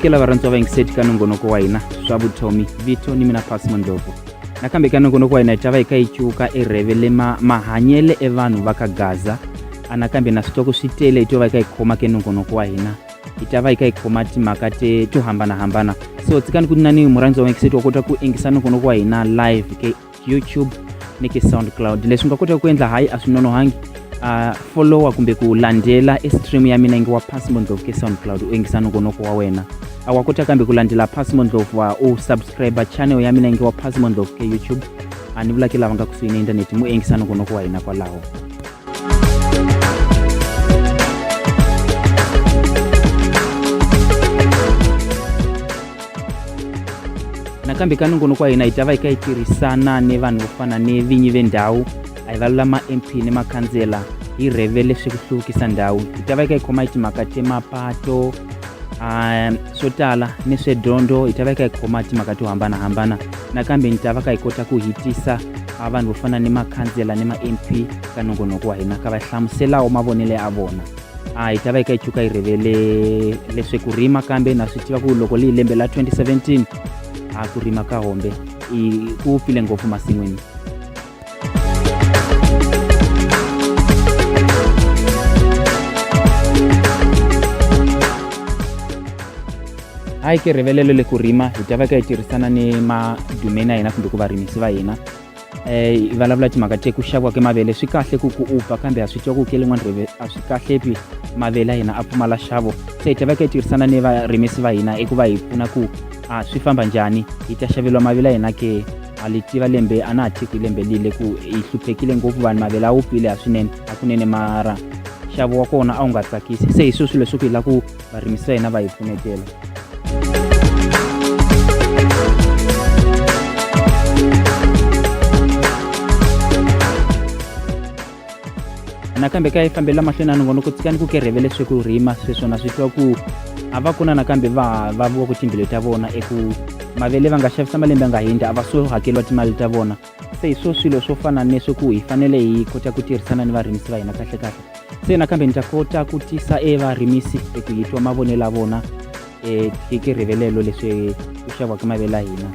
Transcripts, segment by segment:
amukela varhandzi va yingiseti ka nongonoko wa hina swa vutomi vito ni mina pasi mondlovu nakambe ka nongonoko wa hina hi ta va hi ka yi cuka erheve le ma mahanyele evanhu va ka gaza anakambe na switoko swi tele hi to va hi ka hi khoma ke nongonoko wa hina hi ta va hi kha hi khoma timhaka to hambanahambana so tsikani ku nina ni murhandziwa wa ngiseti wa kota ku engisa nongonoko wa hina live ke youtube ni ke soundcloud leswi nga kotaka ku endla hayi a swi nonohangi uh, followa kumbe ku landzela e stream ya mina nge wa pasi mondlovu ke soundcloud u engisa nongonoko wa wena a wa kota kambe ku landzela pasi mondlovu wa u subscribe channel ya mina nge wa pasi mondlovu ke youtube a ni vulake lava nga kusuhi na inthanete mu engisa nongonoko wa hina kwalaho nakambe ka nongonoko wa hina hi ta va yi ka yi tirhisana ni vanhu vo fana ni vinyi vendhawu a hi valula ma-mp ni makhandzela hi rheve leswi ku hluvukisa ndhawu hi ta va yi ka yi khoma hi timhaka temapato um swo tala ni swedyondzo hi ta va yi ka yi khoma timhaka to hambanahambana nakambe ni ta va ka hi kota ku hitisa a vanhu vo fana ni makhansela ni ma-mp ka nongonoko wa hina ka va hlamuselawo mavonelo ya vona a hi ta va hi ka hi chuka hi rivele leswi ku rima kambe na swi tiva ku loko leyi lembe la 2017 a ku rima ka hombe ku file ngopfu masin'wini a hi kirivelelo le ku rima hi ta va ka hi tirhisana ni madumeni ya hina kumbe ku varimisi va hina um vulavula timhaka te ku xaviwa ke mavele swi kahle ku ku upa kambe ha swi twa ku ke lin'wana reve a swi kahle pi mavele ya hina a pfumala xavo se hi ta va ka hi tirhisana ni varimisi va hina eku va hi pfuna ku a swi famba njhani hi ta xaveriwa mavele ya hina ke a li tiva lembe a na ha tiki lembe lile ku hi hluphekile ngopfu vanhu mavele a wu pile ha swinene hakunene mara nxavo wa kona a wu nga tsakisi se hi swo swilo leswi ku hi la ku varimisi va hina va hi pfunetela nakambe ka yi fambela mahlweni a ni vona ku tsika ni ku kerheve leswi ku rima sweswona swi twa ku a va kuna nakambe va va vo ku timbilu ta vona eku mavele va nga xavisa malembe a nga hundzi a va so hakeriwa timali ta vona se hi swo swilo swo fana ni leswi ku hi fanele hi kota ku tirhisana ni varimisi va hina kahle kahle se nakambe ni ta kota ku tisa e varimisi hi ku hi twa mavonelo ya vona um hi ke rivelelo leswi ku xaviwaka mavele ya hina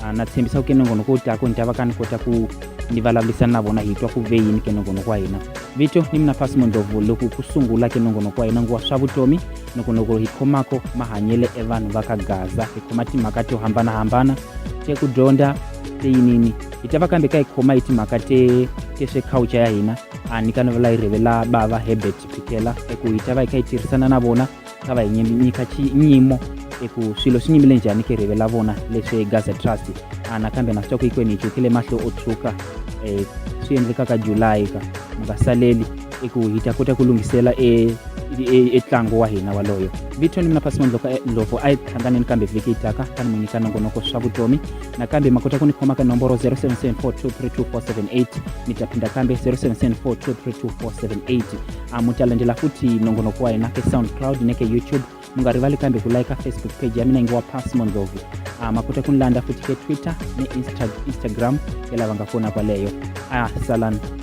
ah, na tshembisa ku kenongono ko ta ku ni ta va ka ni kota ku ni vulavulisana na vona hi twa ku ve yini kenongonoko wa hina vito ni mina fasi mondlovu loko ku sungula kenongonoko wa hina nguva swa vutomi nokonoko hi khomako mahanyele evanhu va ka gaza hi khoma timhaka to hambanahambana te ku dyondza se yinini hi ta va kambe ka hi khoma hi timhaka te te swe culture ya hina a ni ka ni vula yi rivela bava herbert phikela eku hi ta va hi kha hi tirhisana na vona ka va hi nyika nyimo eku swilo swi nyimile njhani ke rivela vona leswi gaza trust a nakambe na swi twa ku hikwenu hi chukile mahlo o tshuka um swi endlekaka julayi ka mi nga saleli eku hi ta kota ku lunghisela e etlango wa hina waloyo vito ni mina pasi mandloka ndlovu a yi hlanganeni kambe vhiki yi taka tani mu nyika nongonoko swa vutomi nakambe ma kota ku ni khoma ka nomboro 0774232478 mi ta phinda kambe 0774232478 a mu ta landzela futhi nongonoko wa hina ke soundcloud ne ke youtube mu nga rivali kambe ku layika facebook page ya mina ngi wa pass mondlovu a ma kota ku ni landza futhi ke twitter ni Insta instagram ya lava nga kona kwaleyo a salan